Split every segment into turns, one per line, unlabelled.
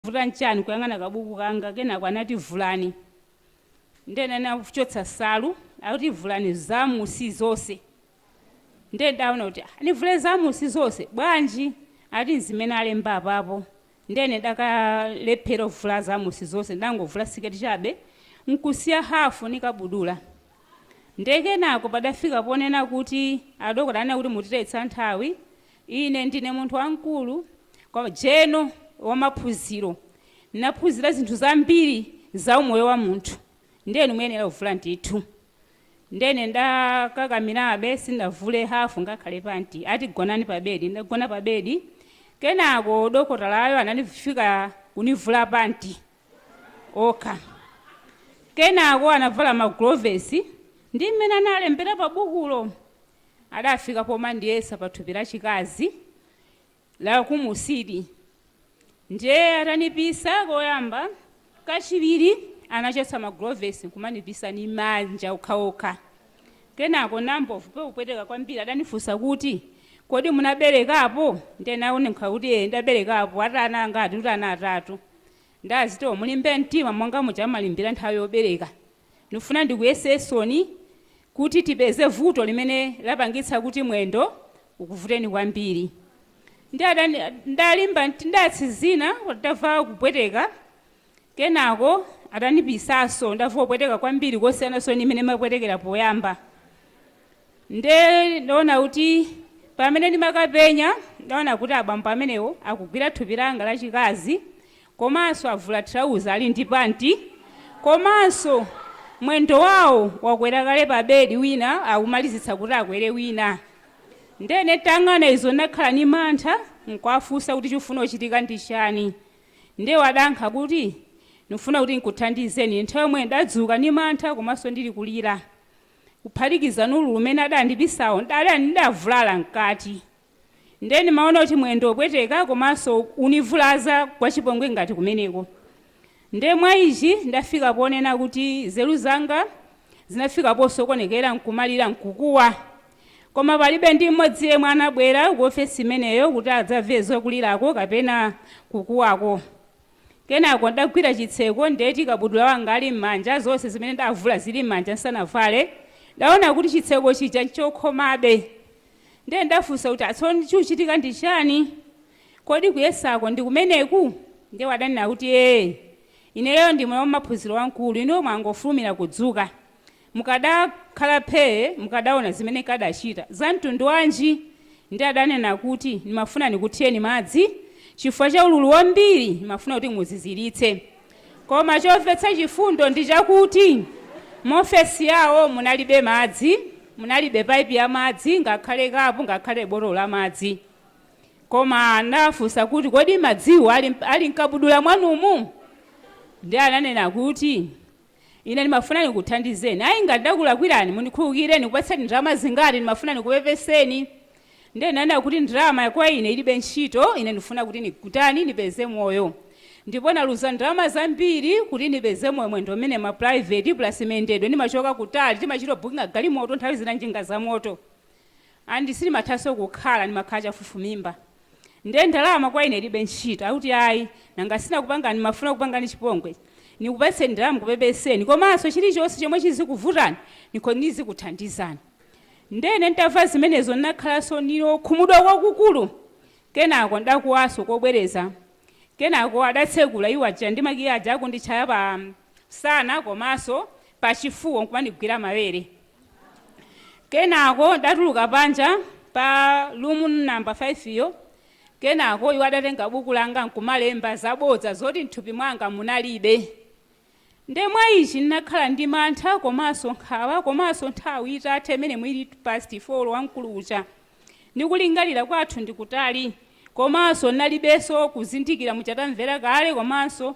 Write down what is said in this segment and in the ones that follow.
Chavuta n'chani kuyang'ana kabuku kanga? Kenako anati, Vulani. Ndiye ine ndinachotsa nsalu. Akuti, Vulani zamunsi zonse. Ndiye ine ndidaona kuti, ah, nivule zamunsi zonse bwanji? Anati, N'zimene alemba apapo. Ndiye ine ndidakalephera kuvula zamunsi zonse, ndidangovula siketi chabe n'kusiya hafu ndi kabudula. Ndiye kenako padafika ponena kuti adokotala anena kuti mutitayitsa nthawi. Ine ndine munthu wamkulu, kwa, jeno wa maphunziro, ndinaphunzira zinthu zambiri za umoyo wa munthu. Ndiye inu muyenera kuvula ndithu. Ndiye ine ndakakamirabe, sindinavule hafu ngakhale panti. Ati, Gonani pa bedi. Ndinagona pa bedi. Kenako dokotalayo ananifika kunivula panti okha. Kenako anavala magulovesi ndi mmene analembera pa bukulo. adafika pomandiyesa pa thupi lachikazi la kumusili ndiye atanipisa koyamba kachiwiri anachotsa magulovesi nkumanipisa ni manja okhaokha kenako nayambomva kupweteka kwambiri adanifunsa kuti kodi munaberekapo ndiye nawayankha kuti "Eh, ndaberekapo ati ana angati kuti ana atatu ndazitiwo mulimbe mtima monga muja amalimbira nthawi yobereka Ndifuna ndikuyesesoni kuti tipeze vuto limene lapangitsa kuti mwendo ukuvuteni kwambiri. Ndiatani, ndalimba mtima, ndatsizina koma ndava kupweteka kenako atanipisaso ndava kupweteka kwambiri kosiyananso ndi mmene ndimapwetekera poyamba. Nde ndaona kuti pamene ndimakapenya ndaona kuti abambo amenewo akugwira thupi langa lachikazi komanso avula trauza ali ndi panti komanso mwendo wawo wakwera kale pa bedi wina akumalizitsa kuti akwere wina nde ine ntayang'ana izo ndinakhala ni mantha nkuwafunsa kuti chifuna kuchitika ndi chani nde iwo adayankha kuti ndifuna kuti nkuthandizeni nthawi yomwe ndadzuka ni mantha komanso ndili kulira kuphatikiza ni ululu umene adandipisawo ndali nditavulala mkati Nde ndimaona kuti mwendo opweteka komanso univulaza kwachipongwe ngati kumeneko. Nde mwa ichi ndafika ponena kuti nzeru zanga zinafika posokonekera nkumalira nkukuwa. Koma palibe ndi mmodzi yemwe anabwera ku ofesi imeneyo kuti adzamve zokulirako kapena kukuwako. Kenako ndagwira chitseko ndeti kabudula wanga ali mmanja zonse zimene ndavula zili mmanja nsanavale, ndaona kuti chitseko chija nchokhomabe. Ndiye ndafunsa kuti, Atsoni chikuchitika ndi chani? Kodi kuyesako ndi kumeneku? Ndiye adanena kuti, Ee. Ineyo ndi mwana wamaphunziro wamkulu, inuyo mwangofulumira kudzuka. Mukadakhala phee mukadaona zimene nkadachita. Zamtundu wanji? Ndiye adanena kuti, Ndimafuna ndikuthireni madzi chifukwa cha ululu wambiri ndimafuna kuti muziziritse. Koma chomvetsa chifundo ndi chakuti mu ofesi yawo munalibe madzi, munalibe paipi ya madzi, ngakhale kapu, ngakhale botolo la madzi. Koma ndinawafunsa kuti, Kodi madziwo ali mkabudula mwanumu? Ndiye ananena kuti, Ine ndimafuna ndikuthandizeni. Ayi, ngati ndakulakwirani, mundikhululukire. Ndikupatseni ndalama zingati? Ndimafuna ndikupepeseni. Ndiye ndinanena kuti ndalama kwa ine ilibe ntchito. Ine ndikufuna kuti nitani? Nipeze moyo. Ndipo naluza ndalama zambiri kuti nipeze moyo mwendo umene ma private plus mayendedwe. Nimachoka kutali, timachito bookinga galimoto, nthawi zina njinga za moto. and sindimathanso kukhala ndimakhala chafufumimba nde ndalama kwa ine ilibe ntchito akuti ayi nanga sinakupange nimafuna kukupangani chipongwe nikupatseni ndalama kupepeseni komanso chilichonse chomwe chizikuvutani nikhonza kukuthandizani nde ine ntamva zimenezo nnakhalanso ndi okhumudwa kwakukulu kenako ndakuwanso kobwereza kenako adatsekula door ija ndi makiyi aja akunditchaya pa msana komaso pachifuwa nkumandigwira mawere kenako ndatuluka panja pa room number 5 yo kenako iwo adatenga buku langa nkumalemba zabodza zoti mthupi mwanga munalibe nde mwa ichi ndinakhala ndi mantha komaso nkhawa komaso nthawi itatha imene inali past four wamkulu uja ndi kulingalira kwathu ndi kutali komanso nalibenso kuzindikira mwachita kumva kale komanso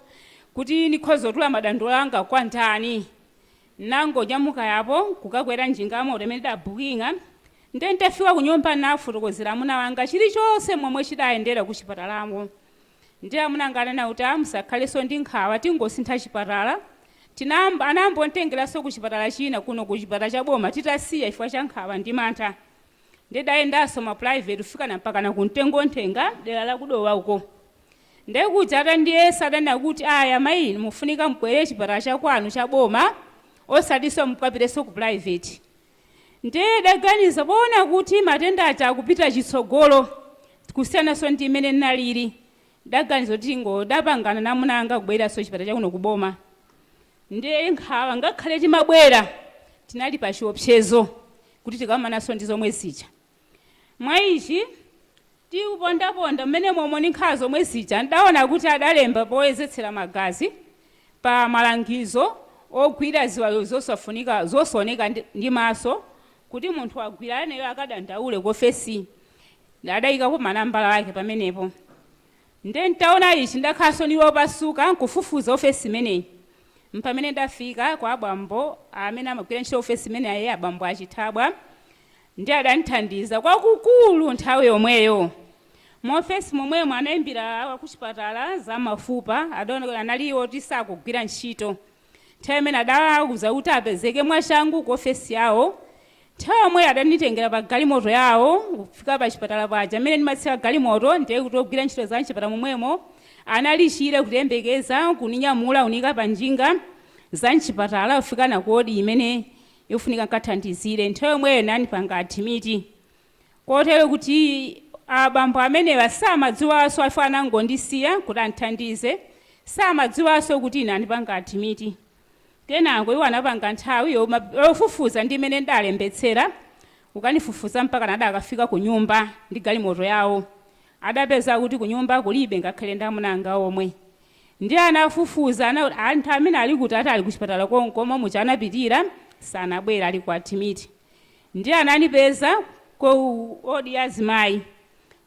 kuti nikhoza kutula madandaulo anga kwa ndani nangonyamuka yapo kukakwera njinga yamoto imene ndabhuking'a nde ntafika kunyumba nafotokozera amuna wanga chilichonse momwe chidayendera ku chipatalamo ndi amuna anga anena kuti musakhalenso ndi nkhawa tingosintha chipatala tinayamba anayambanditengeranso ku chipatala china kuno ku chipatala cha boma titasiya chifukwa cha nkhawa ndi mantha ndidayendanso ma private kufikana mpakana ku Mtengowanthenga dera la ku Dowa uko nde kuja atandiyesa adanena kuti aya mayi inu mufunika mubwere chipatala cha kwanu cha boma osatinso mukapitenso ku private ndiye daganiza poona kuti matenda aja akupita chitsogolo kusiyananso ndi imene ndinalili daganiza kuti ndidapangana namuna anga kubweranso chipatala chakuno kuboma Nde nkhawa ngakhale timabwera tinali pa chiopsezo kuti tikamananso ndi zomwe zija. Mwa ichi, tikupondaponda mmenemomo ndi nkhawa zomwe zija, ndidaona kuti adalemba poyezetsera magazi pa malangizo ogwira ziwalo zosaoneka ndi maso kuti munthu wogwira aneyo akadandaule ku ofesi adaikapo manambala ake pamenepo. Nde ntaona ichi ndakhalanso ndili omasuka nkufufuza ofesi imeneyi mpamene ndafika kwa abambo amene amagwira ntchito ofesi imeneyi abambo a Chithabwa nde adandithandiza kwakukulu nthawi yomweyo. Mu ofesi momwemo anaimbira akuchipatala za mafupa adaona kuti anali oti sakugwira ntchito. Nthawi imene adawauza kuti apezeke mwachangu ku ofesi yawo, nthawi yomweyo adanditengera pa galimoto yawo kufika pachipatala paja. Mmene ndimatsika galimoto ndiye kuti ogwira ntchito za m'chipatala momwemo anali chire kundiyembekeza, kundinyamula kuniika pa njinga za m'chipatala kufika nane ku wodi imene ifunika n'kathandizidwe. Nthawi yomweyo anandipanga adimiti. Kotero kuti abambo amenewa samadziwanso chifukwa anangondisiya kuti andithandize, samadziwanso kuti ine andipanga admit. Kenako iwo anatenga nthawi yofufuza ndi imene ndidalembetsera kukandifufuza mpakana adakafika kunyumba ndi galimoto yawo. Adapeza kuti kunyumba kulibe ngakhale ndi amuna anga omwe. Ndiye anafufuza anthu amene ali kuti ati ali kuchipatala konko momwe muja anapitira sanabwere ali ku admit. Ndiye ananipeza Ku ward ya azimayi.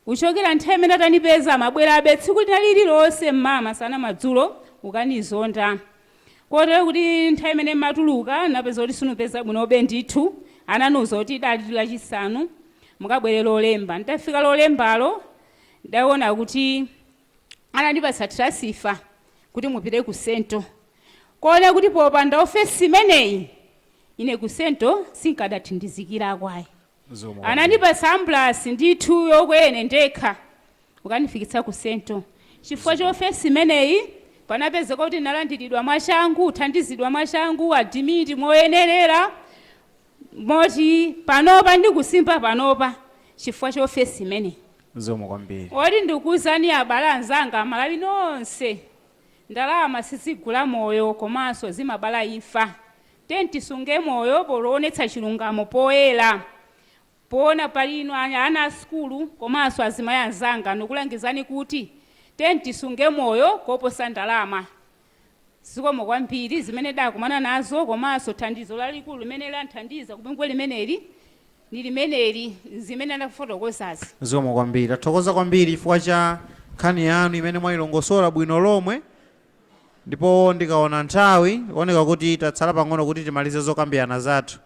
Kuchokera nthawi imeneyo atanipeza amabwerabe tsiku lina lililonse m'mawa, masana, madzulo kukanizonda. Kotero kuti nthawi imene mmatuluka napeza kuti sinkupeza bwinobe ndithu ananiuza kuti dali lachisanu mukabwere lolemba. Nditafika lolembalo ndidaona kuti. anandipatsa transifa kuti mupite ku Sento. Koona kuti popanda ofesi imeneyi, ine ku Sento sinkadathandizikirako ayi. Anandipatsa ambulasi ndithu yokwera ine ndekha kukandifikitsa ku Sento. Chifukwa cha ofesi imeneyi, panapezeka kuti ndinalandiridwa mwachangu, kuthandizidwa mwachangu, adimiti moyenerera, moti panopa ndikusimba panopa chifukwa cha ofesi imeneyi. Zikomo
kwambiri. Oti
ndikuuzani abale anzanga amalawi nonse ndalama sizigula moyo komanso zimabala imfa. Tiyeni tisunge moyo poonetsa chilungamo poyera. Poona pali ino ana a sukulu komanso azimayi anzanga ndikulangizani kuti tiyeni tisunge moyo koposa ndalama. Zikomo kwambiri zimene ndakumana nazo komanso thandizo lalikulu limene landithandiza ku bungwe limeneli ndi limeneli zimene ndakufotokozazi. Zikomo kwambiri.
Tathokoza kwambiri chifukwa cha nkhani yanu imene mwailongosola bwino lomwe ndipo ndikaona nthawi ikuoneka kuti tatsala pang'ono kuti timalize zokambirana zathu.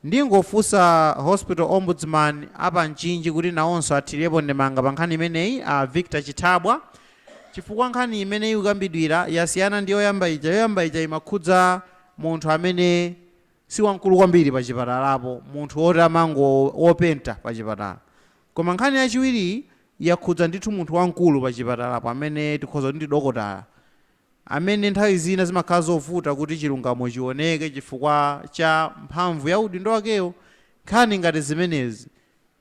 Ndingofunsa Hospital Ombudsman a pa Mchinji kuti nawonso athirepo ndemanga pa nkhani imeneyi, a Victor Chithabwa, chifukwa nkhani imeneyi ikukambidwayi yasiyana ndi yoyamba ija. Yoyamba ija imakhudza munthu amene si wamkulu kwambiri pachipatalapo, munthu woti amango, wopenta pachipatala. Koma nkhani yachiwiriyi yakhudza ndithu munthu wamkulu pachipatalapo amene tikhoza kuti ndi dokotala. amene nthawi zina zimakhala zovuta kuti chilungamo chioneke chifukwa cha mphamvu ya udindo wakewo, nkhani ngati zimenezi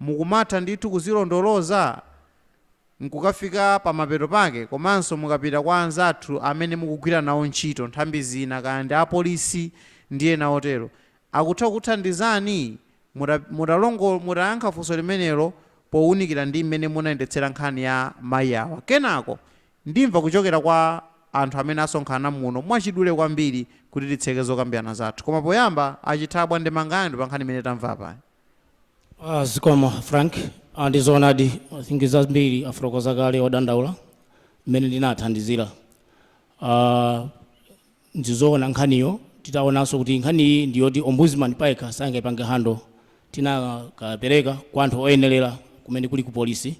mukumatha ndithu kuzilondoloza n'kukafika pamapeto pake komanso mukapita kwa anzathu amene mukugwira nawo ntchito, nthambi zina, kaya ndi apolisi ndi ena otero, akutha kukuthandizani mutayankha funso limenelo pounikira ndi mmene munayendetsera nkhani ya mayi awa. Kenako Ndimva kuchokera kwa anthu amene asonkhana muno mwachidule kwambiri kuti titseke zokambirana zathu. Koma poyamba, a Chithabwa ndemanga yanu pa nkhani imene tamva apayi?
A. Zikomo, a Frank. A. Ndi zoonadi, I think zambiri afotokoza kale odandaula mmene ndinawathandizira. A. Ndizowona nkhaniyo titawonanso kuti nkhaniyi ndiyoti Ombudsman payekha sangaipange handle tinakapereka kwa anthu oyenelera kumene kuli ku police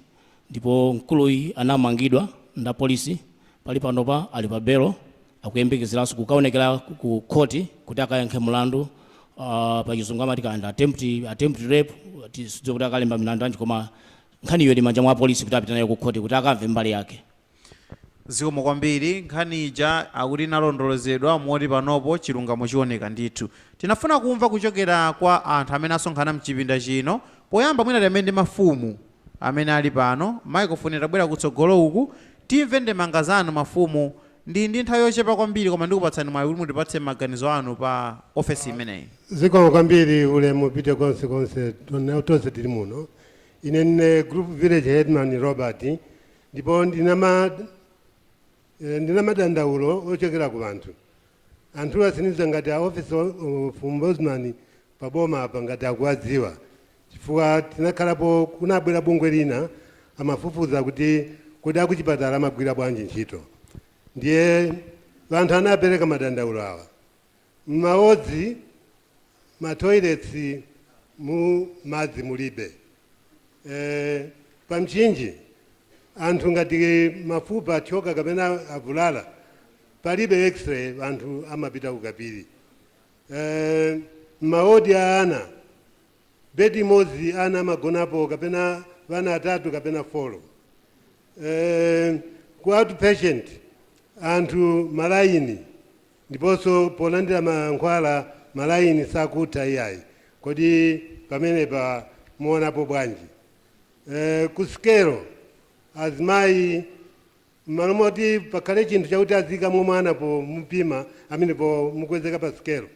ndipo mkuluyi anamangidwa ndi a police pali panopa ali pa belo akuyembekezeranso kukaonekera ku court kuti akayankhe mulandu pa chizungu amati ka attempt attempt rape tidziwe kuti akalemba milandu yanji koma nkhaniyo ili m'manja mwa police kuti apite nayo ku court kuti akamve mbali yake.
Zikomo kwambiri. Nkhani ija akuti inalondolozedwa moti panopo chilungamo chioneka ndithu. Tikufuna kumva kuchokera kwa anthu amene asonkhana mchipinda chino. Poyamba mwina tiyambe ndi mafumu amene ali pano. Microphone itabwera kutsogolo uku. Timve ndemanga zanu mafumu. Ndili ndi nthawi yochepa kwambiri koma ndikupatsani mwayi kuti mutipatse maganizo anu pa ofesi imeneyi. Zikomo kwambiri.
Ulemu upite konse konse to, tonse tili muno. Ine ndine Group Village Headman Robert. Ndipo ndili na ma, eh, ndili na madandaulo ocokela ku wanthu. Anthuwa sindidziwa ngati a Office o- of Ombudsman pa boma apa ngati akuwadziwa. Chifukwa tinakhalapo kunabwera bungwe lina amafufuza kuti kodi akuchipatala amagwira bwanji ntchito. Ndiye wanthu anapereka madandaulo awa. Mmodzi ma toilets mu madzi mulibe eh, pa mchinji anthu ngati mafupa athyoka kapena avulala palibe x-ray anthu amapita kukapiri eh, maodi a ana bedi imodzi ana amagonapo kapena vana atatu kapena folo eh, ku outpatient anthu malayini Ndiponso polandira mankhwala malayini sakutha iyayi. Kodi pamenepa muonapo bwanji? Eeh, ku sikelo azimayi mmalo moti pakhale chinthu chakuti aziikamo mwana pomupima amene pomukwezeka pa sikelo,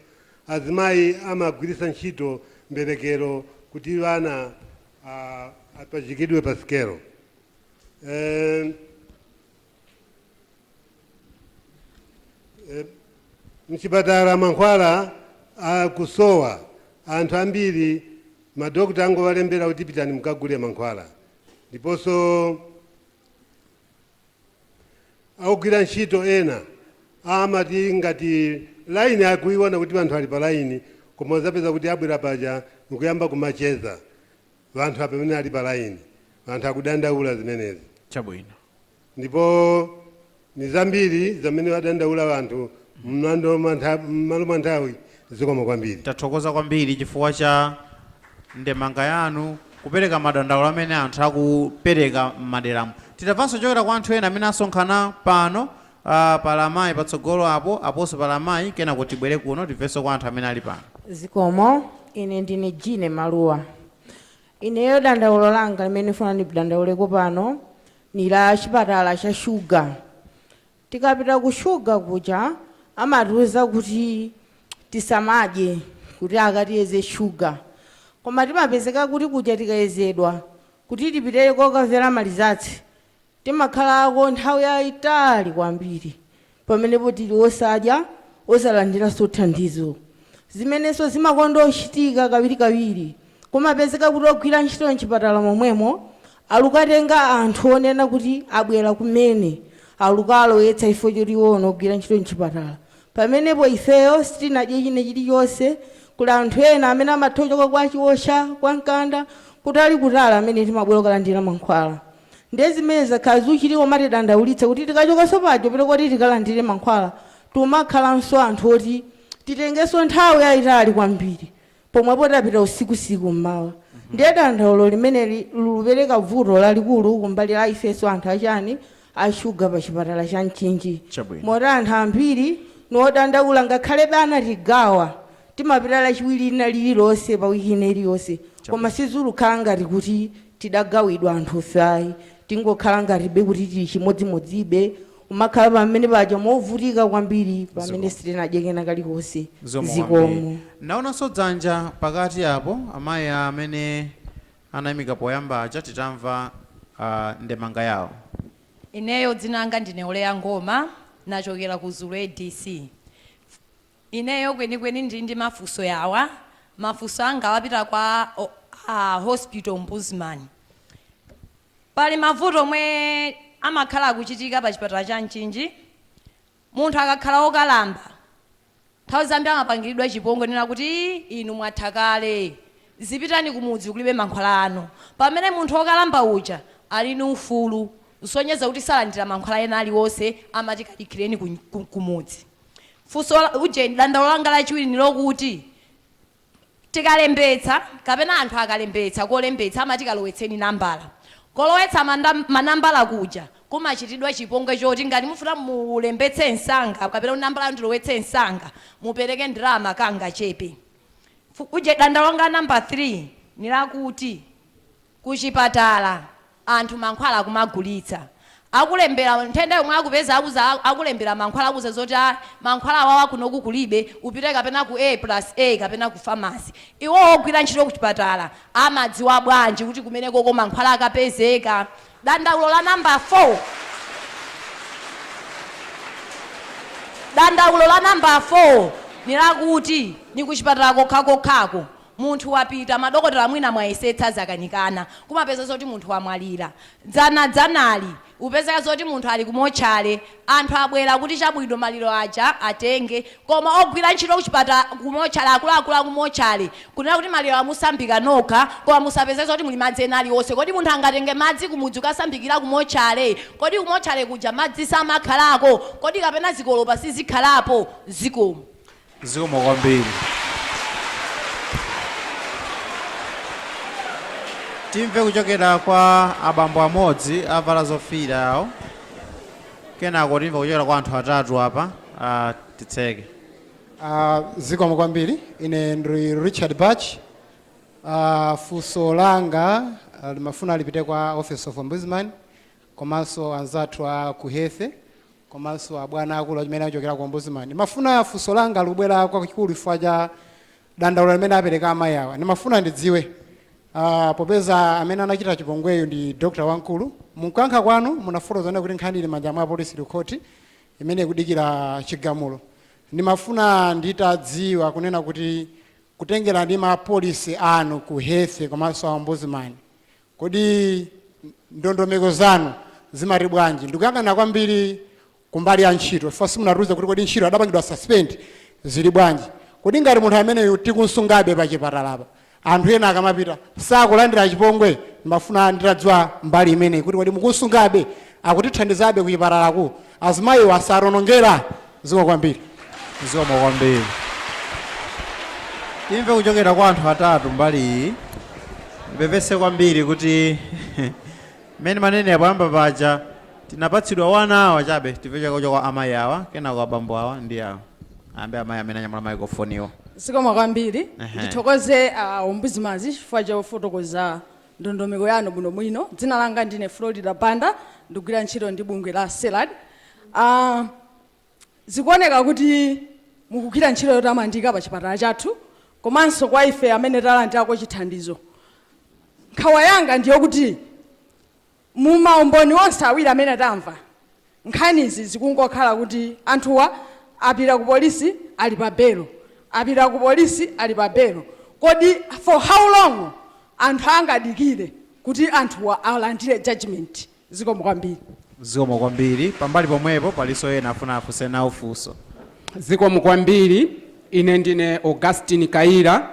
azimayi amagwiritsa ntchito mberekero kuti wana apachikidwe pa sikelo. Eeh. mchipatala mankhwala akusowa anthu ambiri madokota angowalembera kuti pitani mukagule mankhwala ndiponso akugwira ntchito ena amati ngati laini akuiona kuti anthu ali pa laini koma uzapeza kuti abwera panja nkuyamba kumacheza Vanthu apa pamene ali pa laini, vanthu akudandaula zimenezi.
Chabwino.
Ndipo ni zambiri zamene vadandaula vanthu m'mando mwa ntha- m'malo mwa nthawi zikomo kwambiri. Tathokoza
kwambiri chifukwa cha ndemanga yanu kupereka madandaulo amene anthu akupereka m'maderamu. Titamvanso kuchokera kwa anthu ena amene asonkhana pano Aaa pali amayi patsogolo apo, aponso pali amayi kenako tibwere kuno timvenso kwa anthu amene ali pano.
Zikomo. Ine ndine Jeanne Maluwa. Ineyo dandaulo langa limene ndifuna ndidandauleko pano ni la chipatala cha shuga. Tikapita ku shuga kuja amatiuza kuti tisamadye kuti akatiyeze shuga. Koma timapezeka kuti kuja tikayezedwa kuti tipite kokamvera malizatsi Timakhalako nthawi yaitali kwambiri pamenepo tili osadya, osalandiranso thandizo. Zimenenso zimakonda kuchitika kawirikawiri, kumapezeka kuti ogwira ntchito m'chipatala momwemo alukatenga anthu onena kuti abwera kumene alukaalowetsa chifukwa choti iwowo nogwira ntchito m'chipatala. Pamenepo ifeyo sitinadye china chilichonse. Kuli anthu ena amene amatha kuchoka kwa Chiosha, kwa Nkanda, kutalikutali amene timabwera kukalandira mankhwala. Ndiye zimene zakhala zikuchitika kumatidandaulitsa kuti tikachokanso paja upite koti tikalandire mankhwala timakhalanso anthu oti titengenso nthawi yayitali kwambiri pomwepo tapita usikusiku m'mawa. Ndiye dandaulo limeneli likupereka vuto lalikulu kumbali ya ifenso anthu a chani, a shuga pa chipatala cha Mchinji. Moti anthu ambiri ni odandaula ngakhalebe anatigawa timapita lachiwiri lina lililonse pa wiki ina iliyonse koma sizulukhala ngati kuti tidagawidwa anthufe ayi tingokhala ngatibe kuti tili chimodzimodzibe kumakhala pamene paja movutika kwambiri pamene sitinadye kena kalikonse zikomo naonanso
dzanja pakati apo amayi amene anayimika poyamba aja titamva ah, ndemanga yawo ineyo
dzina langa ndine Oleya Ngoma nachokera ku Zulu ADC Ineyo kwenikweni ndili ndi mafunso yawa. Mafunso angawa apita kwa a Hospital Ombudsman. Pali mavuto omwe amakhala akuchitika pa chipatala cha Mchinji. Munthu akakhala wokalamba, nthawi zambiri amapangiridwa chipongwe kunena kuti ii inu mwatha kale, zipitani kumudzi kulibe mankhwala anu. Pamene munthu wokalamba uja ali ndi ufulu kusonyeza kuti salandira mankhwala ena aliwonse amati kadikireni kumudzi. Funso, uje, dandaulo langa lachiwiri ni lokuti tikalembetsa kapena anthu akalembetsa kolembetsa amati kalowetseni nambala. Kolowetsa manda, manambala kuja kumachitidwa chipongwe choti ngati mufuna mulembetse msanga kapena kuti nambala yanu ndilowetse msanga mupereke ndalama kangachepe. Fu, uje, dandaulo langa la namba 3 ni lakuti. kuchipatala anthu mankhwala akumagulitsa akulembera nthenda yomwe akupeza akulembera mankhwala akuuza zoti mankhwala awawa kunoku kulibe upite kapena ku A plus A kapena ku pharmacy iwowo ogwira ntchito kuchipatala amadziwa bwanji kuti kumenekoko mankhwala akapezeka dandaulo la namba 4 dandaulo la namba 4 nilakuti ni kuchipatala kokhakokhako Munthu wapita, madokotala mwina mwayesetsa zakanikana, kumapeza zoti munthu wamwalira. Dzana dzanali, upezeka zoti munthu ali ku motchale, anthu abwera kuti chabwino maliro aja atenge, koma ogwira ntchito kuchipatala, ku motchale, akuluakulu aku motchale kunena kuti malirowa musambika nokha, koma musapeze zoti muli madzi ena aliwonse. Kodi munthu angatenge madzi kumudzi kukasambikira ku motchale? Kodi kumotchale kuja madzi samakhalako? Kodi kapena zikolopa sizikhalapo? Zikomo.
Zikomo kwambiri. Timve kuchokera kwa abambo amodzi avala zofiira awo, kenako timve kuchokera kwa anthu atatu apa ah, titseke.
Uh, zikomo kwambiri ine ndine Richard Batch uh, funso langa uh, limafuna lipite kwa office of ombudsman komanso anzathu a ku Health komanso abwana aakulu amene achokera ku Ombudsman. Ndimafuna funso langa likubwera kwakikulu chifukwa cha dandaulo limene apereka amayi awa. Ndimafuna ndidziwe ah, popeza amene anachita chipongweyu ndi dokotala wamkulu, mukuyankha kwanu munafotokoza kunena kuti nkhani ili manja mwa polisi ndi khoti imene ikudikira chigamulo. Ndimafuna nditadziwa kunena kuti kutengera ndi ma policy anu ku Health komanso a Ombudsman, Kodi ndondomeko zanu zimati bwanji? Ndikuyang'ana kwambiri kumbali ya ntchito chifukwa simunatiuze kuti kodi ntchito adapangidwa suspend zili bwanji. Kodi ngati munthu ameneyu tikunsungabe pachipatalapa, anthu ena akamapita sakulandira chipongwe? Ndimafuna nditadziwa mbali imeneyi kuti kodi mukunsungabe, akutithandizabe kuchipatalaku, azimayiwa sationongera? Zikomo kwambiri.
Zikomo kwambiri. Timve kuchokera kwa anthu atatu mbali iyi. Tipepese kwambiri kuti mmene ndimanena poyamba paja tinapatsidwa one hour chabe timve kuchokera kwa amayi awa kenako abambo awa ndi awa ayambe amayi amene anyamula maikrofoniwo. Zikomo kwambiri.
Ehe. Ndithokoze a Ombudsman chifukwa chofotokoza ndondomeko yanu bwino bwino. Dzina langa ndine Florida Banda, ndikugwira ntchito ndi bungwe la Serad. Uh, zikuoneka kuti mukugwira ntchito yotamandika pa chipatala chathu komanso kwa ife amene talandirako chithandizo. Nkhawa yanga ndiyokuti Mu maumboni onse awiri amene tamva, nkhanizi zikungokhala kuti anthuwa apita ku polisi ali pa belo, apita ku polisi ali pa belo. Kodi for how long anthu angadikire kuti anthuwa alandire judgement? Zikomo kwambiri. Zikomo
kwambiri. Pambali pomwepo palinso ena afuna afunse nawo funso. Zikomo
kwambiri. Ine ndine Augustine Kayira.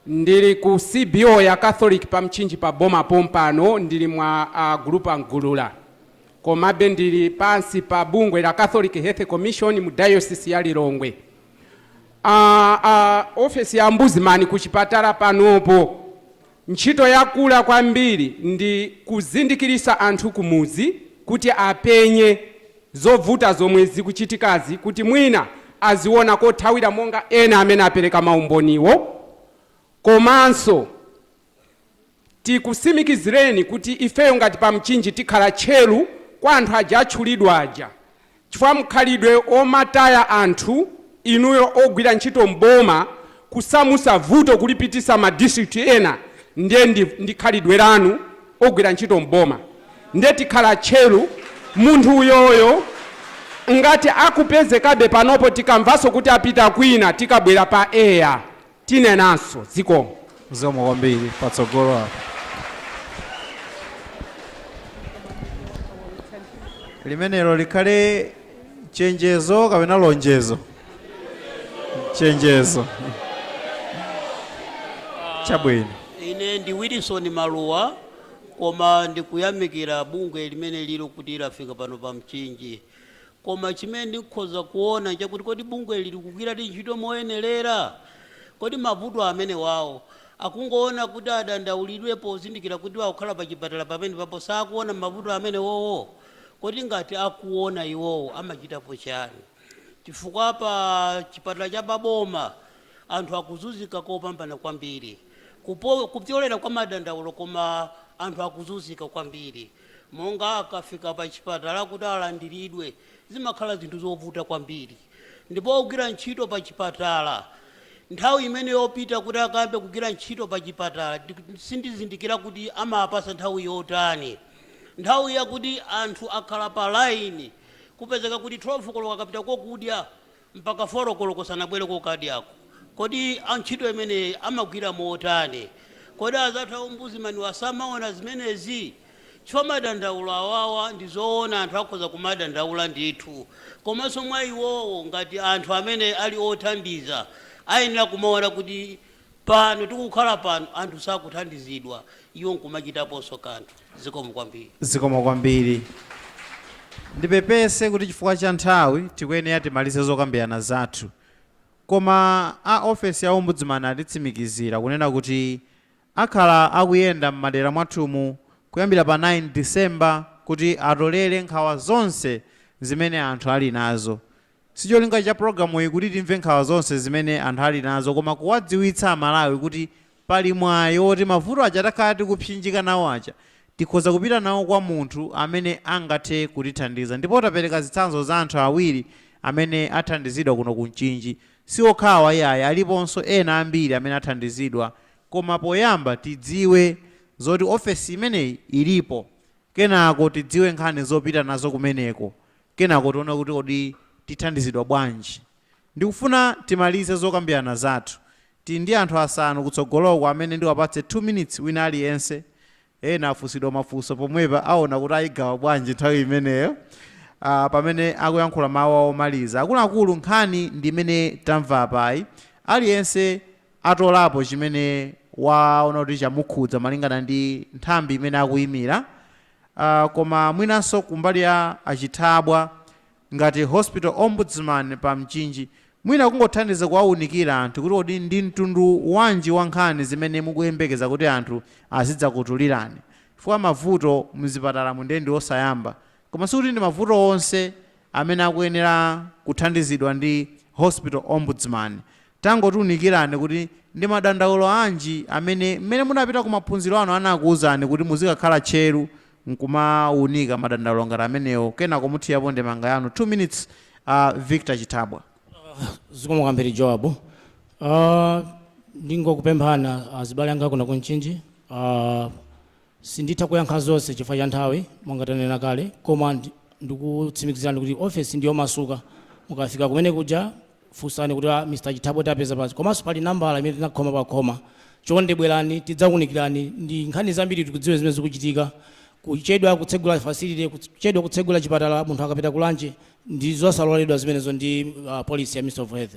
Ndili ku CBO ya Catholic pa Mchinji pa Boma pompano, ndili mwa a Gulupu a Mgulula. Komabe ndili pansi pa bungwe la Catholic Health Commission mu Diocese ya Lilongwe. A a ofesi ya Ombudsman ku chipatala panopo ntchito yakula kwambiri ndi kuzindikiritsa anthu kumudzi kuti apenye. zovuta zomwe zikuchitikazi kuti mwina aziona kothawira monga ena amene apereka maumboniwo komanso tikusimikizireni kuti ifeyo ngati pa Mchinji tikhala tcheru kwa anthu aja atchulidwa aja chifukwa mkhalidwe omataya anthu inuyo ogwira ntchito m'boma kusamusa vuto kulipitisa ma district ena ndiye ndi khalidwe lanu ogwira ntchito m'boma nde tikhala tcheru munthu uyoyo ngati akupezekabe panopo tikamvaso kuti apita kwina tikabwera pa air tinenanso zikomo. Zikomo
kwambiri patsogolo apo. Limenelo likhale chenjezo kapena lonjezo chenjezo chabwino ine ndi
Wilson Maluwa koma ndikuyamikira bungwe limene lili kuti lafika pano pa Mchinji koma chimene ndikhoza kuona chakuti kodi bungwe lili kugwira ti ntchito moyenerera kodi mavuto amene wawo akungoona kuti adandaulidwe pozindikira kuti wakhala pa chipatala pamene papo sakuona mavuto amene wowo Kodi ngati akuona iwowo amachitapo chani? Chifukwa pa chipatala cha pa boma anthu akuzuzika kopambana kwambiri kupyolera kwa madandaulo koma anthu akuzuzika kwambiri monga akafika pa chipatala kuti alandiridwe zimakhala zinthu zovuta kwambiri ndipo ogwira ntchito pa chipatala nthawi imene yopita kuti akayambe kugwira ntchito pa chipatala sindizindikira kuti amapasa nthawi yotani. Nthawi yakuti anthu akhala pa line kupezeka kuti 12 koloko akapita kokudya mpaka 4 koloko sanabwere kokadyako. Kodi antchito imene amagwira motani? Kodi azathu a Ombudsman-wa samaona zimenezi? Chifukwa madandaulo awawa ndi zoona anthu akhoza kumadandaula ndithu komanso mwa iwowo ngati anthu amene ali othandiza ayenera kumaona kuti Pano tikukhala pano anthu sakuthandizidwa iwo nkumachitaponso kanthu. Zikomo kwambiri. Zikomo kwambiri.
Ndipepese kuti chifukwa cha nthawi tikuyenera timalize zokambirana zathu. Koma a ofesi ya Ombudsman atitsimikizira kunena kuti akhala akuyenda m'madera mwathumu kuyambira pa 9 December kuti atolere nkhawa zonse zimene anthu ali nazo. Sicholinga cha pulogalamuyi kuti timve nkhawa zonse zimene anthu ali nazo koma kuwadziwitsa Amalawi kuti pali mwayi woti mavuto aja takhala tikupsinjika nawo aja tikhoza kupita nawo kwa munthu amene angathe kutithandiza ndipo tapereka zitsanzo za anthu awiri amene athandizidwa kuno ku Mchinji. Si okhawa iyayi aliponso ena ambiri amene athandizidwa koma poyamba tidziwe zoti ofesi imeneyi ilipo kenako tidziwe nkhani zopita nazo kumeneko Kenako tiona kuti kodi tithandizidwa bwanji. Ndikufuna timalize zokambirana zathu. Tili ndi anthu asanu kutsogoloku amene ndiwapatse 2 minutes wina aliyense. Ena afunsidwa mafunso pomwepa aona kuti ayigawa bwanji nthawi imeneyo ah pamene akuyankhula mawu awo omaliza. Akuluakulu nkhani ndi imene tamva apayi. Aliyense atolapo chimene waona kuti chamukhudza malingana ndi nthambi imene akuyimira. aah koma mwinanso kumbali ya a Chithabwa ngati Hospital Ombudsman pa Mchinji mwina kungothandiza kuwaunikira anthu kuti kodi ndi mtundu wanji wa nkhani zimene mukuyembekeza kuti anthu azidzakutulirani chifukwa mavuto mzipatalamu ndiye ndi osayamba koma sikuti ndi mavuto onse amene akuyenera kuthandizidwa ndi Hospital Ombudsman Tangotiunikirani kuti ndi madandaulo anji amene mmene munapita ku maphunziro anu anakuuzani kuti muzikakhala tcheru nkumaunika madandaulo ngati amenewo kenako muthiyapo ndemanga yanu. 2 minutes a Victor Chithabwa.
Zikomo kwambiri Joab. Ndingokupemphani azibale anga kuno ku Mchinji. Sinditha kuyankha zonse chifukwa cha nthawi monga tanena kale koma ndikukutsimikizirani kuti ofesi ndiyomasuka. Mukafika kumene kuja funsani kuti a Mr. Chithabwa tiapeza pati komanso pali nambala imene tinakhoma pa khoma. Chonde bwerani tidzakuunikirani ndi nkhani zambiri tikudziwe zimene zikuchitika. Kuchedwa kutsegula facility, kuchedwa kutsegula chipatala munthu akapita ku lunch ndi zosaloledwa zimenezo ndi policy ya Ministry of Health.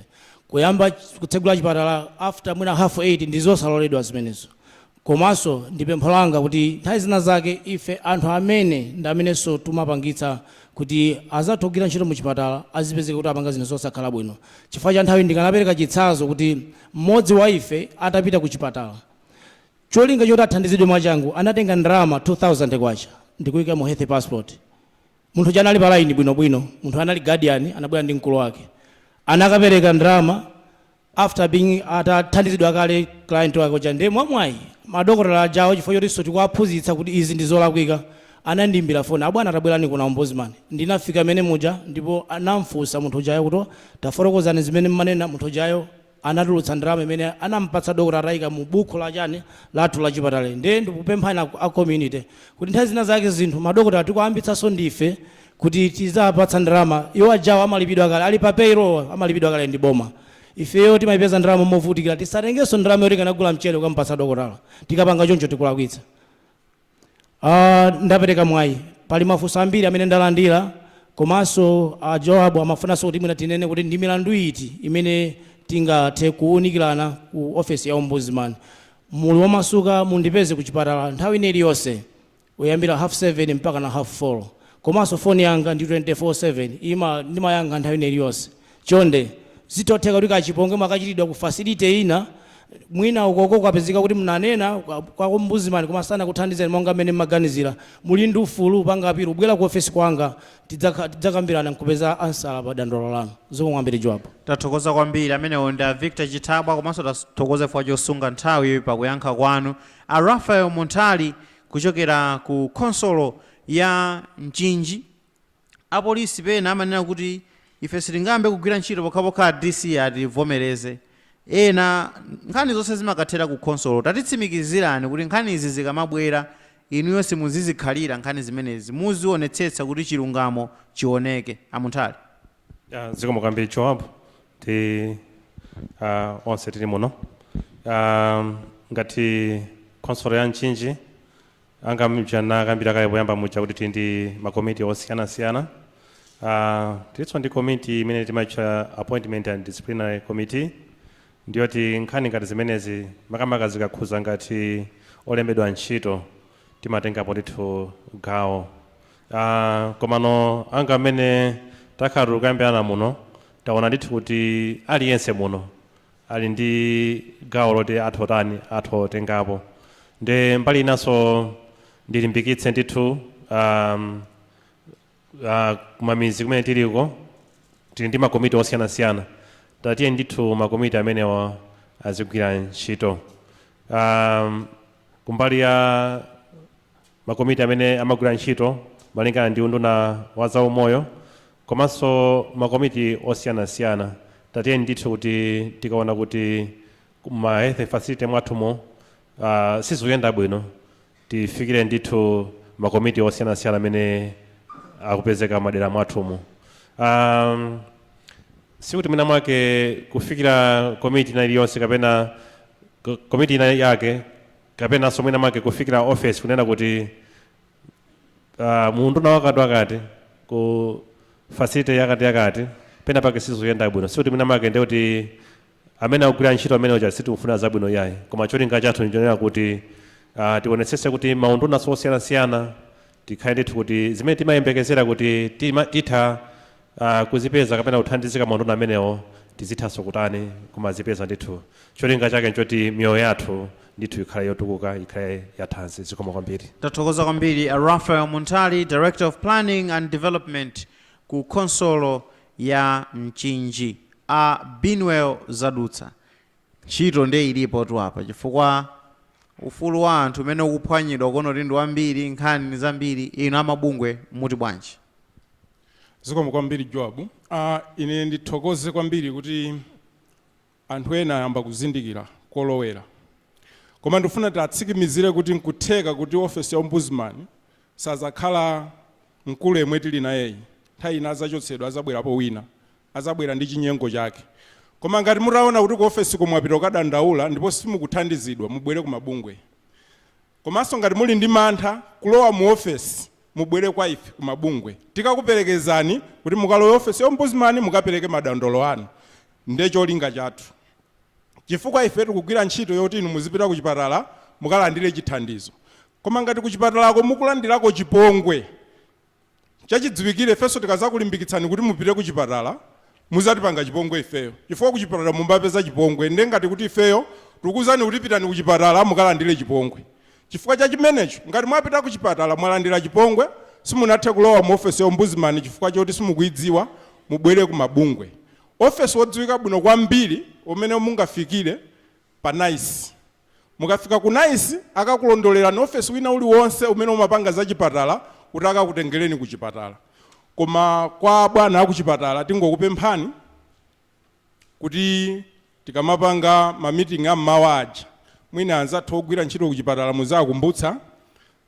Kuyamba kutsegula chipatala after mwina half 8 ndizosaloledwa zimenezo. Komanso ndi pempho langa kuti nthawi zina zake ife anthu amene ndi amenenso tumapangitsa kuti azathu ogwira ntchito mu chipatala azipezeka kuti apanga zinthu zosakhala bwino chifukwa cha nthawi ndikanapereka chitsanzo kuti m'modzi wa ife atapita ku chipatala cholinga choti athandizidwe mwachangu anatenga ndalama K2000 ndikuika mu health passport munthu uja anali pa line bwinobwino munthu anali guardian anabwera ndi mkulu wake anakapereka ndalama after being atathandizidwa kale client wake uja nde mwamwayi madokotala ajawo chifukwa chotinso tikuwaphunzitsa kuti izi ndi zolakwika anandiimbira foni abwana tabwerani kuno a ombudsman ndinafika mmene muja ndipo anamfunsa munthu ujayo kuti tafotokozani zimene mmanena munthu ujayo anatulutsa ndalama imene anampatsa dokotala atayika mu buku la chani lathu la chipatala nde ndikupemphani a community kuti nthawi zina zake zinthu madokotala tikuwayambitsanso ndife kuti tizawapatsa ndalama, iwo ajawo amalipidwa kale, ali pa payroll, amalipidwa kale ndi boma. Ifeyo timaipeza ndalama movutikira, tisatengenso ndalama yoti tikanagula mchere kukamupatsa dokotala. Tikapanga choncho tikulakwitsa. Ah, ndapereka mwayi, pali mafunso ambiri amene ndalandira komanso a Joab amafunanso kuti mwina tinene kuti ndi milandu iti imene tingathe kuwunikirana ku ofesi ya ombudsman. Muli omasuka mundipeze ku chipatala nthawi ina iliyonse. kuyambira half 7 mpakana half 4 komanso phone yanga ndi 24 7 ima ndimayankha nthawi ina iliyonse chonde zitotheka kuti kachipongwe mwachitidwa ku facility ina mwina ukoko kwapezeka kuti mnanena kwa- kwa ombudsman koma sanakuthandizeni monga mmene mmaganizira muli ndi ufulu opanga apilo kubwera ku ofesi kwanga tidzakha- tidzakambirana nkupeza ansala pa dandolo lanu zikomo kwambiri Joab tathokoza kwambiri
amenewo ndi a victor chithabwa komanso tathokoza chifukwa chosunga nthawi pakuyankha kwanu a Raphael Munthali Kuchokera ku khonsolo ya Mchinji, apolisi pena amanena kuti ife sitingayambe kugwira ntchito pokhapokha a DC ativomereze. Ena, Nkhani zonse zimakathera ku khonsolo. Tatitsimikizirani kuti nkhanizi zikamabwera inuyo simuzizikhalira nkhani zimenezi, muzionetsetsa kuti chilungamo chioneke, a Munthali. Ah,
zikomo kwambiri joab ndi ah, onse tili muno Ah, ngati khonsolo ya mchinji monga muja nakambira kale poyamba muja kuti tili ndi makomiti osiyanasiyana Ah, tilinso ndi komiti imene timatcha appointment and disciplinary committee ndiyoti nkhani ngati zimenezi makamaka zikakhuza ngati olembedwa ntchito timatengapo ndithu gawo aah komano monga mmene takhala tikukambirana muno taona ndithu kuti aliyense muno ali ndi gawo loti atha kutani atha kutengapo nde mbali inanso ndilimbikitse ndithu aah ah, kumamizi kumene tiliko tili ndi makomiti osiyanasiyana tatiye ndithu makomiti amenewa azigwira ntchito um, kumbali ya makomiti amene amagwira ntchito malingana ndi unduna wa zaumoyo komanso makomiti osiyanasiyana tatiye ndithu kuti tikaona kuti ma health facility mwathumo uh, sizikuyenda bwino Tifikire ndithu makomiti osiyanasiyana amene akupezeka madera mwathumo. Um, sikuti mwina mwake kufikira komiti ina iliyonse kapena ko- komiti ina yake kapenanso mwina mwake kufikira office kunena kuti uh, muunduna wakati wakati ku facility yakati yakati pena pake sizikuyenda bwino sikuti mwina mwake ndiye kuti Amene akugwira ntchito amene uja sitimufunira zabwino iyayi koma cholinga chathu nchonena kuti uh, tionetsetse kuti maunduna osiyanasiyana tikhale ndithu kuti zimene timayembekezera kuti tima, titha uh, kuzipeza kapena kuthandizika maunduna amenewo tizithanso kutani kumazipeza ndithu cholinga chake nchoti miyoyo yathu ndithu ikhale yotukuka ikhale yathanzi zikomo kwambiri Tathokoza kwambiri a
Raphael Munthali, Director of Planning and Development ku khonsolo ya Mchinji a Binwell Zadutsa, ntchito ndiye ilipotu apa chifukwa ufulu wa anthu umene ukuphwanyidwa ukuona kuti ndi wambiri, nkhani ndi zambiri, inu a mabungwe muti
bwanji? Zikomo kwambiri Joab. Ine ndithokoze kwambiri kuti Anthu ena ayamba kuzindikira kolowera. Koma ndikufuna tiwatsimikizire kuti nkutheka kuti ofesi ya Ombudsman sadzakhala mkulu yemwe tili nayeyi. Nthawi ina adzachotsedwa, adzabwerapo wina. Adzabwera ndi chinyengo chake. Koma ngati mutaona kuti ku ofesiko mwapita kukadandaula ndipo simukuthandizidwa, mubwere ku mabungwe. Komanso ngati muli ndi mantha kulowa mu ofesi mubwere kwa ife ku mabungwe tikakuperekezani kuti mukalowe ofesi ya Ombudsman mukapereke madandaulo anu nde cholinga chathu chifukwa ife tikugwira ntchito yoti inu muzipita kuchipatala mukalandire chithandizo koma ngati kuchipatalako mukulandirako chipongwe Chachidziwikire ifenso tikazakulimbikitsani kuti mupite kuchipatala muzatipanga chipongwe ifeyo chifukwa kuchipatala munkapeza chipongwe nde ngati kuti ifeyo tikukuuzani kuti pitani kuchipatala mukalandire chipongwe chifukwa cha chimenecho ngati mwapita kuchipatala mwalandira chipongwe simunathe kulowa mu ofesi ya Ombudsman chifukwa choti simukuidziwa mubwere ku mabungwe ofesi wodziwika bwino kwambiri umene mungafikire pa NICE Mukafika ku NICE akakulondolerani office wina uliwonse umene umapanga za chipatala kuti akakutengeleni ku chipatala. Koma kwa abwana aku chipatala tingokupemphani kuti tikamapanga ma meeting a m'mawa aja mwina anzathu ogwira ntchito ku chipatala muziwakumbutsa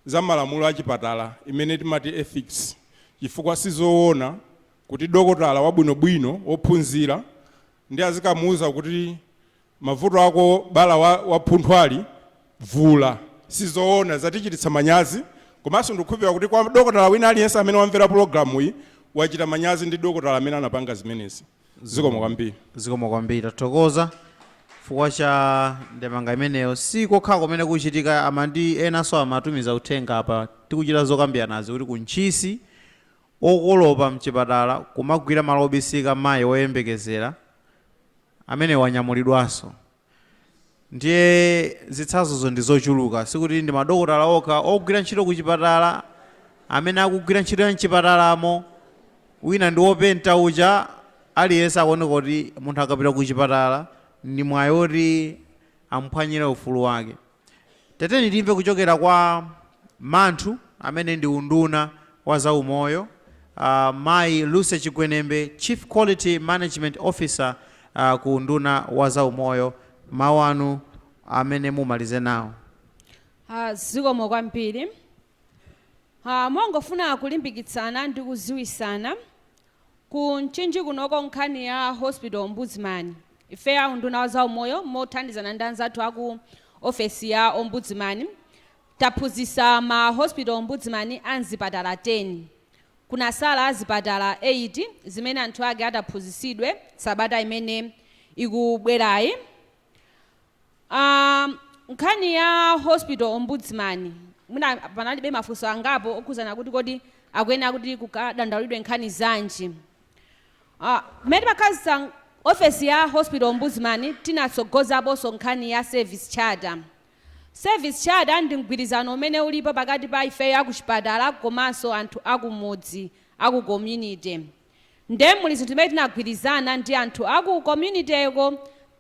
za malamulo a chipatala imene timati ethics chifukwa sizowona kuti dokotala wabwinobwino wophunzira ndiye azikamuuza kuti Mavuto ako bala la phunthwali vula sizoona zatichititsa manyazi komanso ndikukhulupilira kuti kwa dokotala wina aliyense amene wamvera program iyi wachita manyazi ndi dokotala amene anapanga zimenezi zikomo kwambiri. zikomo kwambiri
tathokoza chifukwa cha ndemanga imeneyo si kokha kumene zikuchitika amayi enanso amatumiza uthenga apa tikuchita zokambiranazi kuti ku Ntchisi okolopa mchipatala kumagwira malo obisika mayi oyembekezera amene wanyamulidwanso. Ndiye zitsanzozo ndi zochuluka. Sikuti ndi madokotala okha ogwira ntchito kuchipatala amene akugwira ntchito ya m'chipatalamo. Wina ndi wopenta uja, aliyense akuoneka kuti munthu akapita kuchipatala ndi mwayi woti amuphwanyire ufulu wake. Tatiyeni timve kuchokera kwa mnzathu amene ndi unduna wa za umoyo uh, mayi Lucy Chigwenembe Chief Quality Management Officer uh, ku unduna wa za umoyo mawu anu amene mumalize nawo.
Uh, zikomo kwambiri uh, mongofuna kulimbikitsana ndi kuziwisana Ku Mchinji kunoko nkhani ya Hospital Ombudsman, ifeyo a unduna wa za umoyo mothandizana ndi anzathu aku ofesi ya Ombudsman taphunzitsa ma Hospital Ombudsman a mzipatala 10. Kunasala zipatala 8 zimene anthu ake ataphunzitsidwe sabata imene ikubwerayi. a Nkhani ya Hospital Ombudsman, mwina panalibe mafunso angapo okhudzana kuti kodi akuyenera kuti kukadandaulidwe nkhani zanji. a Mmene timakhazitsa ofesi ya Hospital Ombudsman tinatsogozaponso nkhani ya service charter. Service charter ndi mgwirizano umene ulipo pakati pa ifeyo akuchipatala komanso anthu akumudzi, aku community. Nde muli zinthu zimene tinagwirizana ndi anthu a ku community'ko.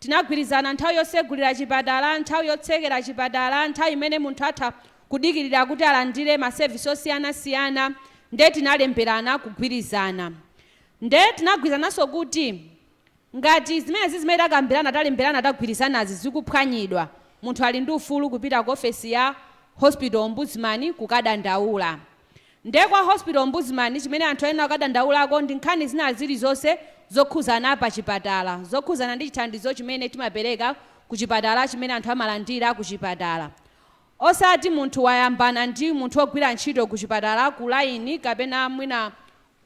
Tinagwirizana nthawi yosegulira chipatala, nthawi yotsekera chipatala, nthawi imene munthu atha kudikilira kuti alandire ma service osiyanasiyana. Nde tinalemberana kugwirizana. Nde tinagwirizananso kuti. Ngati zimenezi zimene takambirana, talemberana, tagwirizanazi zikuphwanyidwa, munthu ali ndi ufulu kupita ku ofesi ya Hospital Ombudsman kukadandaula. Nde kwa Hospital Ombudsman chimene anthu ayenera kukadandaulako ndi nkhani zina zilizonse zokhuzana pa chipatala, zokhuzana ndi chithandizo chimene timapereka ku chipatala, chimene anthu amalandira ku chipatala. Osati munthu wayambana ndi munthu wogwira ntchito ku chipatala ku line kapena mwina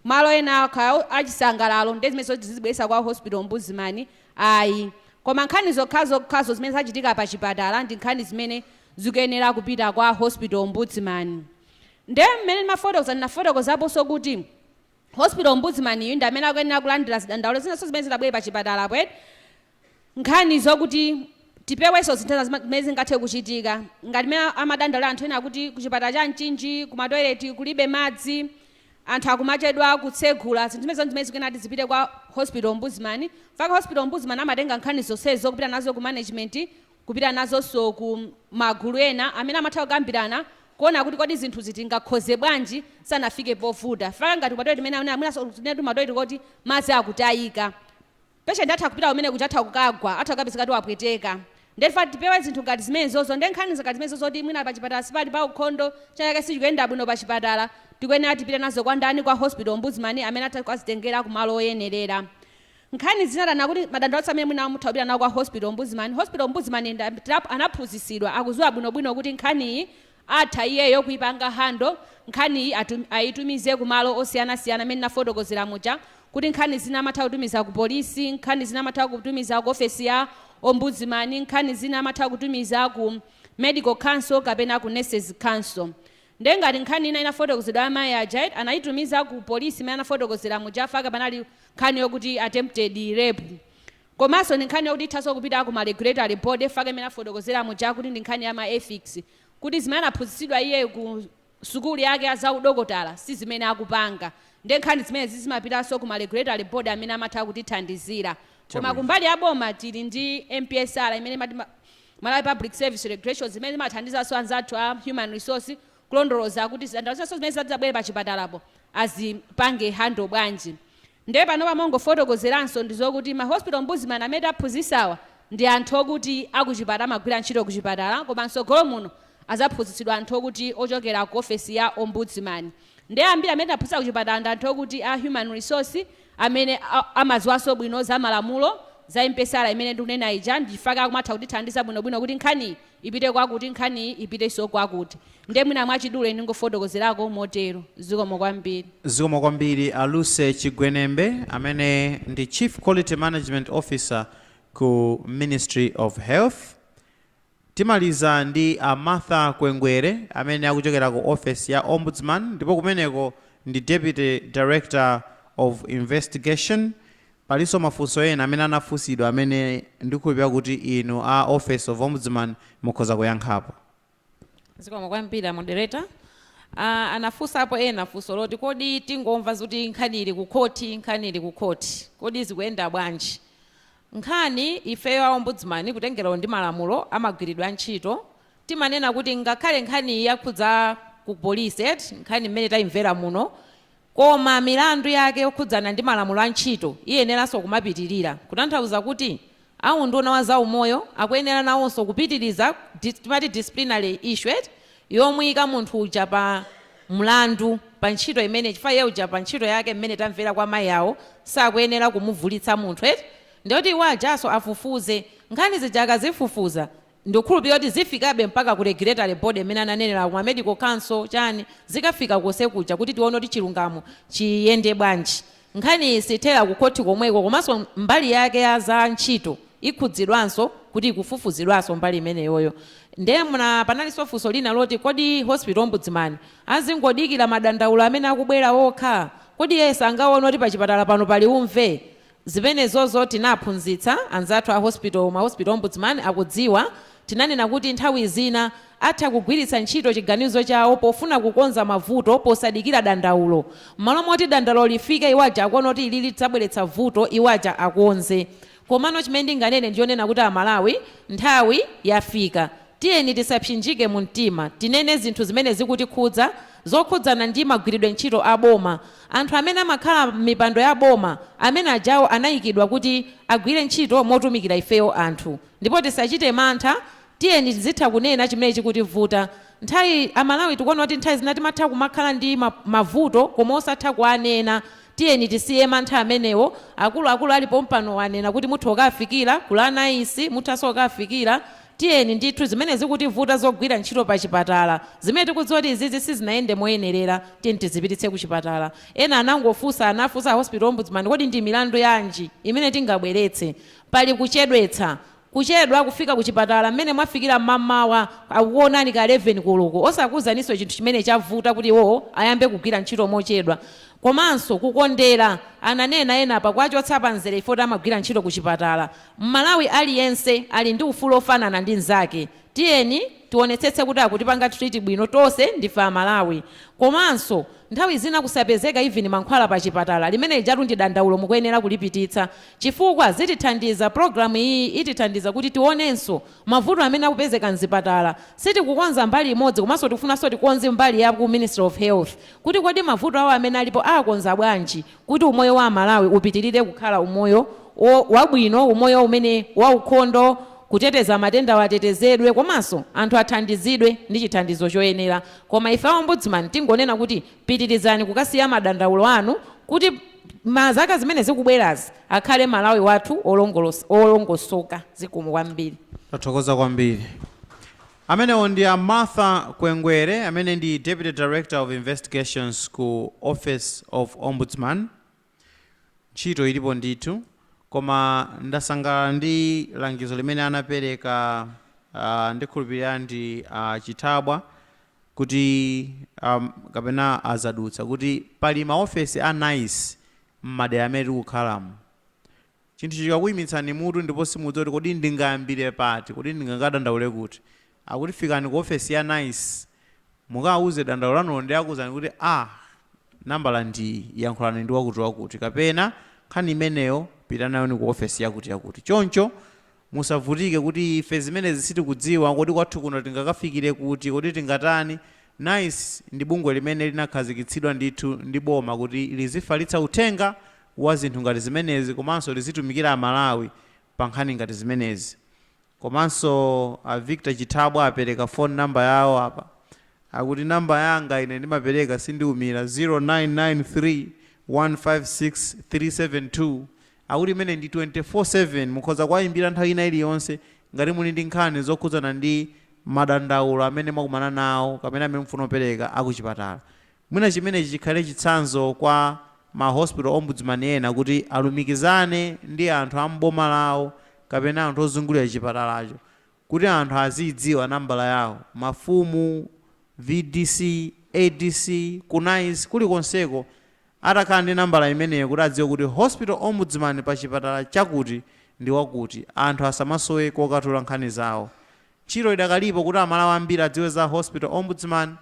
Malo ena ake achisangalalo nde zimenezo azizibweretsa kwa hospital ombudsman ayi koma nkhani zokhazokhazo zimene zachitika pa chipatala ndi nkhani zimene zikuyenera kupita kwa hospital ombudsman nde mmene ndimafotokoza ndinafotokozaponso kuti hospital ombudsman yu ndi amene akuyenera kulandira zidandaulo zinanso zimene zitabwere pa chipatalapo eti nkhani zokuti tipewenso zinthu zina zima, zimene zingathe kuchitika ngati mmene amadandaulira anthu ena kuti kuchipatala cha Mchinji kumatoileti kulibe madzi, anthu akumachedwa kutsegula, zinthu zimenezo ndizimene zikuyenera kuti zipite kwa Hospital Ombudsman, chifukwa Hospital Ombudsman amatenga nkhani zonsezo kupita nazo ku management kupita nazonso ku magulu ena amene amatha kukambirana kuona kuti kodi zinthuzi tingakonze bwanji zisanafike povuta, chifukwa ngati kumatoileti mmene akunena mwinanso kunena kuti kumatoileti koti madzi akutayika. patient atha kupita kumene kuja atha kukagwa atha kukapezeka kuti wapweteka nde tifa tipewe zinthu ngati zimenezozo nde nkhani ngati zimenezo kuti mwina pachipatala sipali pa ukhondo china chake sichikuyenda bwino pachipatala tikuyenera tipite nazo kwa ndani kwa hospital ombudsman amene atha kuzitengera ku malo oyenerera nkhani zina tanena kuti madandaulo athu amene mwina mutha kupita nawo kwa hospital ombudsman hospital ombudsman nda- tap- anaphunzitsidwa akuziwa bwinobwino kuti nkhaniyi Atha iyeyo kuipanga handle nkhaniyi atum aitumize ku malo osiyanasiyana mmene nafotokozera muja kuti nkhani zina amatha kutumiza ku police, nkhani zina amatha kutumiza ku ofesi ya Ombudsman, nkhani zina amatha kutumiza ku Medical Council kapena ku Nurses Council. Ndiye ngati nkhani ina inafotokozedwa ya amayi aja eti, anaitumiza ku police mmene anafotokozera muja faka panali nkhani yokuti attempted rape. Komanso ndi nkhani yokuti ithanso kupita ku ma regulatory body faka mmene afotokozera muja kuti ndi nkhani ya ma ethics kuti zimene anaphunzitsidwa iyeyo ku sukulu yake ya za udokotala si zimene akupanga ndiye nkhani zimenezi zimapitanso ku ma regulatory body amene amatha kutithandizira. Koma kumbali ya boma tili ndi MPSR imene imati ma Malawi Public Service Regulations imene imathandizanso anzathu a human resource kulondoloza kuti zidandaulo zonse zimene zabwera pachipatalapo azipange handle bwanji. Nde panopa mongofotokozeranso ndizokuti ma hospital ombudsman amene taphunzisawa ndi anthu okuti akuchipatala amagwira ntchito kuchipatala koma mtsogolo muno azaphunzitsidwa anthu okuti ochokera ku ofesi ya ombudsman nde ambiri amene taphunzitsa kuchipatala ndi anthu okuti a human resource amene amaziwanso bwino zamalamulo za MPSR imene ndikunena ija ndi faka akumatha kutithandiza bwinobwino kuti nkhaniyi ipite kwakuti, nkhaniyi ipitenso kwakuti. Ndiye mwina mwachidule ndingofotokozerako motero. Zikomo kwambiri. Zikomo kwambiri
a Lucy Chigwenembe amene ndi Chief Quality Management Officer ku Ministry of Health. Timaliza ndi a Martha Kwengwere amene akuchokera ku ofesi ya Ombudsman ndipo kumeneko ndi Deputy Director of Investigation Palinso mafunso ena amene anafunsidwa amene ndikhulupirira kuti inu a Office of Ombudsman mukhoza kuyankhapo. Zikomo
kwambiri a Moderator. A, anafunsapo ena funso loti kodi tingomamva zoti nkhani ili kukhoti, nkhani ili kukhoti, kodi zikuyenda bwanji? Nkhani, ifeyo a Ombudsman kutengera ndi malamulo amagwiridwe antchito, timanena kuti ngakhale nkhaniyi yakhudza ku police eti, nkhani mmene taimvera muno, Koma milandu yake yokhudzana ndi malamulo a ntchito iyeneranso kumapitirira, kutanthauza kuti a unduna wa za umoyo akuyenera nawonso kupitiriza timati disciplinary issue eti, yomuika munthu uja pa mlandu pa ntchito imene chifukwa iye uja pa ntchito yake mmene tamvera kwa mayi awo sakuyenera kumuvulitsa munthu eti, ndiyoti iwo ajanso afufuze nkhani zija akazifufuza Ndikukhulupilira kuti zifikabe mpaka ku regulatory body imene ananenera ku medical council chani zikafika konse kuja kuti tione kuti chilungamo chiyende bwanji. Nkhaniyi siithera ku khothi komweko komanso mbali yake ya za ntchito ikhudzidwanso kuti ikufufuzidwanso mbali imeneyoyo. Nde panalinso funso lina loti kodi hospital ombudsman azingodikira madandaulo amene akubwera okha? Kodi iye sangaone kuti pachipatala pano pali umve? Zimenezozo tinaphunzitsa anzathu a Hospital Ombudsman akudziwa. Tinanena kuti nthawi zina atha kugwiritsa ntchito chiganizo chawo pofuna kukonza mavuto posadikira dandaulo. Mmalo moti dandaulo lifike iwo aja akuona kuti ilili lidzabweretsa vuto, iwo aja akonze. Komano chimene ndinganene ndi chonena kuti Amalawi, nthawi yafika. Tiyeni tisapsinjike mumtima. Tinene zinthu zimene zikutikhudza zokhudzana ndi magwiridwe ntchito a boma. Anthu amene amakhala mmipando ya boma amene ajawo anaikidwa kuti agwire ntchito motumikira ifeyo anthu ndipo tisachite mantha tiyeni tizitha kunena chimene chikutivuta nthawi a Malawi tikuona kuti nthawi zina timatha kumakhala ndi mavuto koma osatha kuwanena tiyeni tisiye mantha amenewo akuluakulu ali pompanowa anena kuti mutha kukawafikira kula NICE muthanso kukawafikira Tiyeni ndithu zimene zikutivuta zogwira ntchito pa chipatala zimene tikudziwa kuti izizi sizinayende moyenerera tiyeni tizipititse kuchipatala. Ena anafunsa a Hospital Ombudsman kodi ndi milandu yanji imene tingabweretse? Pali kuchedwa kufika kuchipatala mmene mwafikira mmamawa akukuonani ka 11 koloko osakuuzaninso chinthu chimene chavuta kuti iwowo ayambe kugwira ntchito mochedwa komanso kukondera ananena ena apa kuwachotsa pa mzere chifukwa kuti amagwira ntchito kuchipatala. Mmalawi aliyense ali ndi ufulu ofanana ndi nzake tiyeni tionetsetse kuti akutipanga treat bwino tonse ndife amalawi komanso nthawi zina kusapezeka even mankhwala pa chipatala limenelijatu ndi dandaulo mukuyenera kulipititsa chifukwa zitithandiza program iyiyi itithandiza kuti tionenso mavuto amene akupezeka mzipatala sitikukonza mbali imodzi komanso tikufunanso tikonze mbali ya ku ministry of health kuti kodi mavuto awo amene alipo aakonza bwanji Kuti umoyo wa Amalawi upitilire kukhala umoyo wabwino, umoyo umene waukhondo, kuteteza matendawa atetezedwe komanso anthu athandizidwe ndi chithandizo choyenera. Koma ife a Ombudsman tingonena kuti pitilizani kukasiya madandaulo anu kuti mazaka zimene zikubwerazi akhale Malawi wathu wolongosoka. Zikomo kwambiri. Tathokoza kwambiri.
Amenewo ndi a Martha Kwengwere amene ndi Deputy Director of Investigations ku Office of Ombudsman. Ntchito ilipo ndithu koma ndasangalala ndi langizo limene anapereka a ndikhulupirira ndi a Chithabwa kuti a kapena a Zadutsa kuti pali ma ofesi a NICE m'madera amene tikukhalamu. Chinthu chikakuimitsani mutu ndipo simudziwa kuti kodi ndingayambire pati, kodi ndingakadandaule kuti? Akuti fikani ku ofesi ya nice, mukawauze dandaulo lanulo ndiye akuuzani kuti, ah, nambala ndiiyi, yankhulani ndi wakutiwakuti, kapena, nkhani imeneyo pita nayoni ku ofesi yakutiyakuti. Choncho. Musavutike kuti, Ife zimenezi sitikudziwa. Kodi kwathu kuno tingakafikire kuti? Kodi tingatani? Nice ndi bungwe limene linakhazikitsidwa ndithu ndi boma kuti lizifalitsa uthenga wa zinthu ngati zimenezi komanso lizitumikira Amalawi pa nkhani ngati zimenezi. Komanso a Victor Chithabwa apereka phone number yawo apa. Akuti number yanga ine ndimapereka sindiumira 0993 156 372. Akuti imeneyi ndi 24/7, mukhoza kuwayimbira nthawi ina iliyonse ngati muli ndi nkhani zokhudzana ndi madandaulo amene mwakumana nawo kapena amene mukufuna kupereka a kuchipatala. Mwina chimenechi chikhale chitsanzo kwa ma Hospital Ombudsman ena kuti alumikizane ndi anthu a m'boma lawo kapena anthu ozungulira chipatalacho kuti anthu aziidziwa nambala yawo, mafumu, vdc, adc, ku nice, kulikonseko atakhala ndi nambala imeneyo kuti adziwe kuti hospital ombudsman pa chipatala chakuti ndi wakuti, anthu asamasowe kokatula nkhani zawo. Ntchito idakalipo kuti Amalawi ambiri adziwe za hospital ombudsman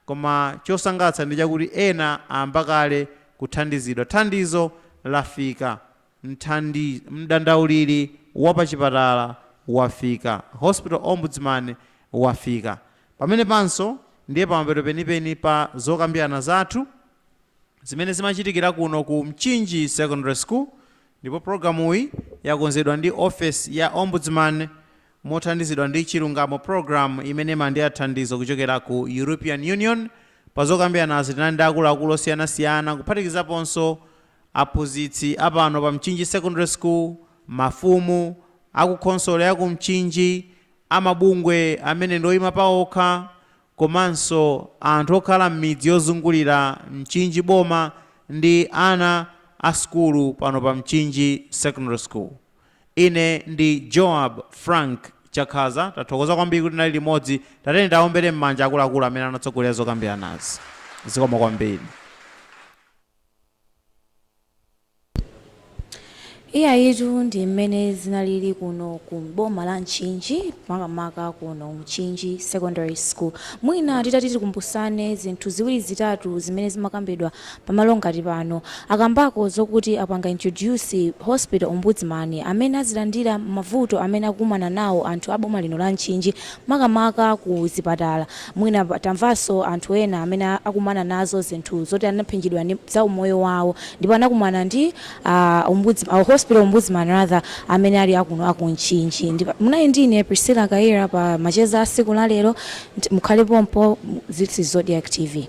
koma chosangalatsa ndi chakuti ena ayamba kale kuthandizidwa. Thandizo lafika. Mdandauliri wa pa chipatala wafika. Hospital Ombudsman wafika. Pamenepanso ndiye pamapeto penipeni pa zokambirana zathu zimene zimachitikira kuno ku Mchinji Secondary School ndipo pulogalamuyi yakonzedwa ndi ofesi ya Ombudsman mothandizidwa ndi Chilungamo Programme imene imalandira thandizo kuchokera ku European Union. Pazokambiranazi tinali ndi akuluakulu osiyanasiyana kuphatikizaponso Aphunzitsi a pano pa Mchinji Secondary School, mafumu, akukhonsolo ya ku Mchinji, amabungwe amene ndi oyima paokha komanso anthu okhala m'midzi yozungulira Mchinji Boma ndi ana a sukulu pano pa Mchinji Secondary School. Ine ndi Joab Frank Chakhaza, tathokoza kwambiri kuti tinali limodzi. Tatiyeni tiwaombere m'manja akuluakulu amene anatsogolera zokambiranazi. Zikomo kwambiri.
Iyayitu ndi mmene zinalili kuno ku boma la Mchinji makamaka kuno Mchinji Secondary School. Mwina titati tikumbusane zinthu ziwiri zitatu zimene zimakambidwa pamalo ngati pano. Akambako zokuti apanga introduce hospital ombudsman amene azilandira mavuto amene akukumana nawo anthu a boma lino la Mchinji makamaka ku zipatala. Mwina tamvanso anthu ena amene akumana nazo zinthu zoti anaphinjidwa za umoyo wawo ndipo anakumana ndi a ombuds a hospital ombudsman rather amene ali akuno aku Mchinji ndi munali ndi ine Priscilla Kayira pa macheza a siku la lero mukhale pompo this is Zodiak Tv.